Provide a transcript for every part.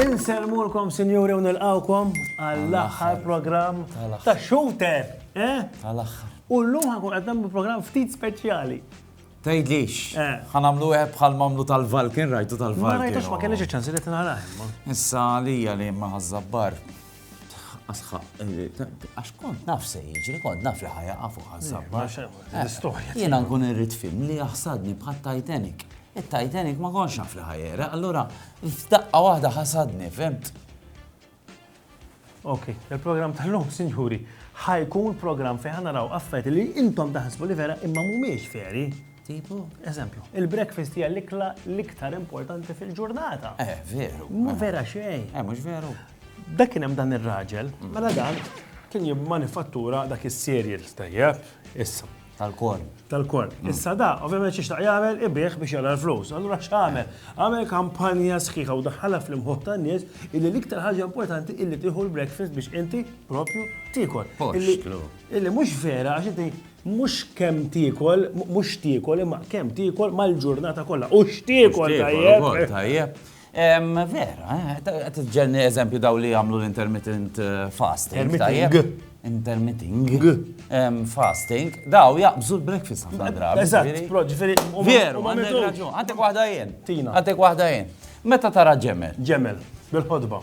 Insellmulkom sinjuri u nilqawkom għall-aħħar programm ta' Shooter. Eh? Għal-aħħar. U l-lum ħankun qed nagħmlu programm ftit speċjali. Tgħidlix. Ħa nagħmlu wieħed bħal m'għamlu tal-Valken, rajtu tal-Valken. Ma rajtux, ma kellix iċ-ċans li qed nara imma. Issa għalija li ma ħażżabbar. Asħaq, għax kont naf se jiġri, kont naf li ħajaqa fuq ħażżabbar. L-istorja. Jiena nkun irrid film li jaħsadni bħal Titanic. Il-Titanic ma konx naf li ħajera, allura f'daqqa waħda ħasadni, fimt? Ok, il-programm tal-lum, sinjuri, ħajkun programm fejn ħana raw affet li intom taħsbu li vera imma mumiex veri. Tipo? Eżempju, il-breakfast hija l-ikla l-iktar importanti fil-ġurnata. Eh, veru. Mu vera xejn. Eh, mhux veru. Dak kien hemm dan ir-raġel, mela dan kien jimmanifattura dak is-cereal tajjeb, issa. Tal-korn. Tal-korn. Mm. Issa da, ovvjament xiex jagħmel ibih biex jagħmel flus. Allura x'għamel? Għamel kampanja sħiħa u daħħalha fl-imħuħ tan-nies illi l-iktar ħaġa importanti illi tieħu l-breakfast biex inti propju tiekol. Illi mhux vera għax inti mhux kemm tiekol, mhux tiekol imma kemm tiekol mal-ġurnata kollha. U x'tiekol tajjeb. Tajjeb. Vera, qed iġġelni eżempju daw li jagħmlu l-intermittent fasting. Intermittent. Fasting. Daw jaqbżu l-breakfast ħafna drabi. Eżatt, ġifieri. Veru, għandek raġun. Għandek waħda jien. Tina. Għandek waħda jien. Meta tara ġemel. Ġemel, bil-ħodba.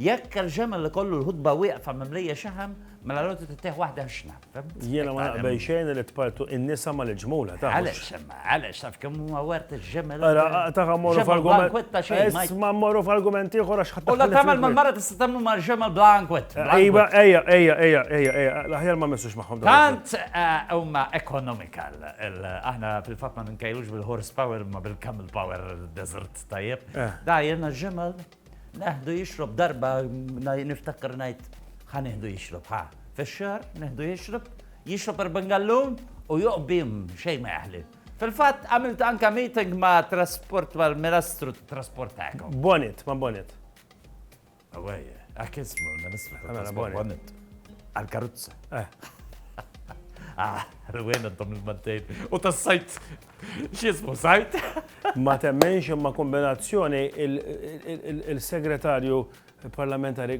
Jekk il-ġemel ikollu l-ħutba wieqfa mimlija xaħam, mela l-għodod ittih waħda ħxna, fimt? Jiena ma naqbel xejn li tpartu in-nisa mal-ġmula, taf. Għaliex imma, għaliex, taf kemm huma wert il-ġemel? Ara, taf mmorru f'argument. Isma' mmorru f'argument ieħor għax ħadd. U la tagħmel mal-mara tista' tagħmel mal-ġemel bla ankwett. Iva, ejja, ejja, ejja, ejja, ejja, l-aħjar ma mmissux magħhom. Tant huma economical, aħna fil-fatt ma ninkejlux bil-horsepower imma bil-camel power desert, tajjeb. Da jiena ġemel. Neħdu jixrob darba niftakar ngħid ħa neħdu jixrob ħa. Fix-xahar neħdu jixrob, jixrob erban gallun u joqbim xejn ma jaħli. Fil-fatt għamilt anka meeting ma' trasport mal-Ministru trasport tagħkom. Bonnet, ma' Bonnet. Awaj, għak ismu l-Ministru trasport Bonnet. Għal-karuzza. Eh. Ah, rwena dom il-mantejn. U tas-sajt X'jismu sajt? Ma temmenx imma kombinazzjoni il-segretarju parlamentari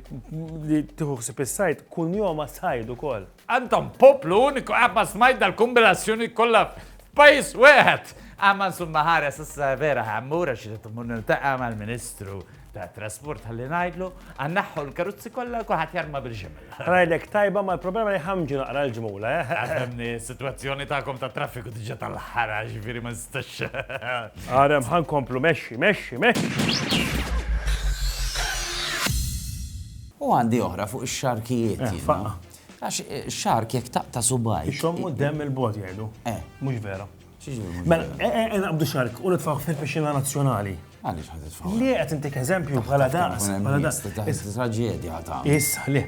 li tieħu ħsib is-sajt kun joma sajd ukoll. Antom poplu uniku qatt ma smajt dal-kombinazzjoni kollha f'pajjiż wieħed. Għamma nsumma ħares issa vera ħammur għax irid immur niltaqa' mal-Ministru tat-trasport ħalli ngħidlu, a nneħħu l-karozzi kollha u kulħadd jarma bil-ġimel. Ngħidlek tajba ma l-problema li ħamġu naqra l-ġmula, eh? Għafemni, s-sitwazzjoni tagħkom tat-traffiku diġà tal-ħara, ġifieri ma nistax. Għarem ħa nkomplu mexxi, mexxi, mexxi! U għandi oħra fuq ix-xarkijiet. Eh, faqqa. Għax eh, xark jekk taqta subaj. Ixommu dem il-bot jgħidu. Eh. Mhux vera. Mela, e, e, e, naqbdu xark u nitfaw fil-piscina nazzjonali. Għalix ħad titfaw. Li għet intik eżempju bħala daqs. Bħala daqs. Traġedja għata. Issa, li.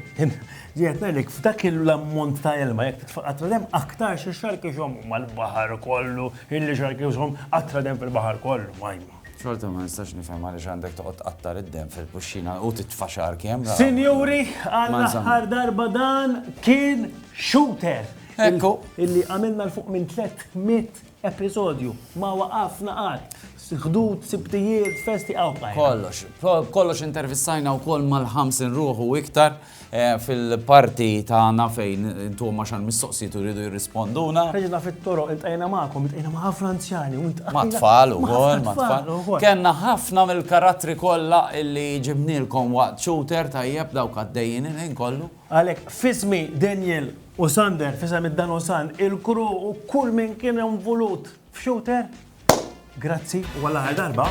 Ġiet nelik, f'dak l-ammont ta' ilma, jek titfaw għatra dem, aktar xie xark iġom mal-bahar kollu, illi xark iġom għatra dem fil-bahar kollu, majma. Xorta ma nistax nifhem għaliex għandek toqgħod tqattar id-dem fil-puxxina u titfa' xar kemm. Sinjuri, għal aħħar darba dan kien shooter. Ekku. Illi għamilna l-fuq minn 300 episodju. Ma waqafna qatt. Ħdud, sibtijiet, festi għaw. Kollox. Kollox intervistajna u koll mal-ħamsin ruħu iktar eh, fil-parti ta' nafejn intu ma xan mistoqsijiet u rridu jirrisponduna. Reġina fit-toro, intajna ma'kom, intajna ma' ħafna anzjani. Ma' tfal u koll, ma' tfal. Kenna ħafna mill-karattri kolla illi ġibnilkom waqt shooter tajjeb dawk għaddejjin il-ħin kollu. Għalhekk, f'ismi Daniel u Sander, f'isem id-Dan u San, il-kru u kull min kien involut f'Shooter, grazzi u għall-aħħar darba.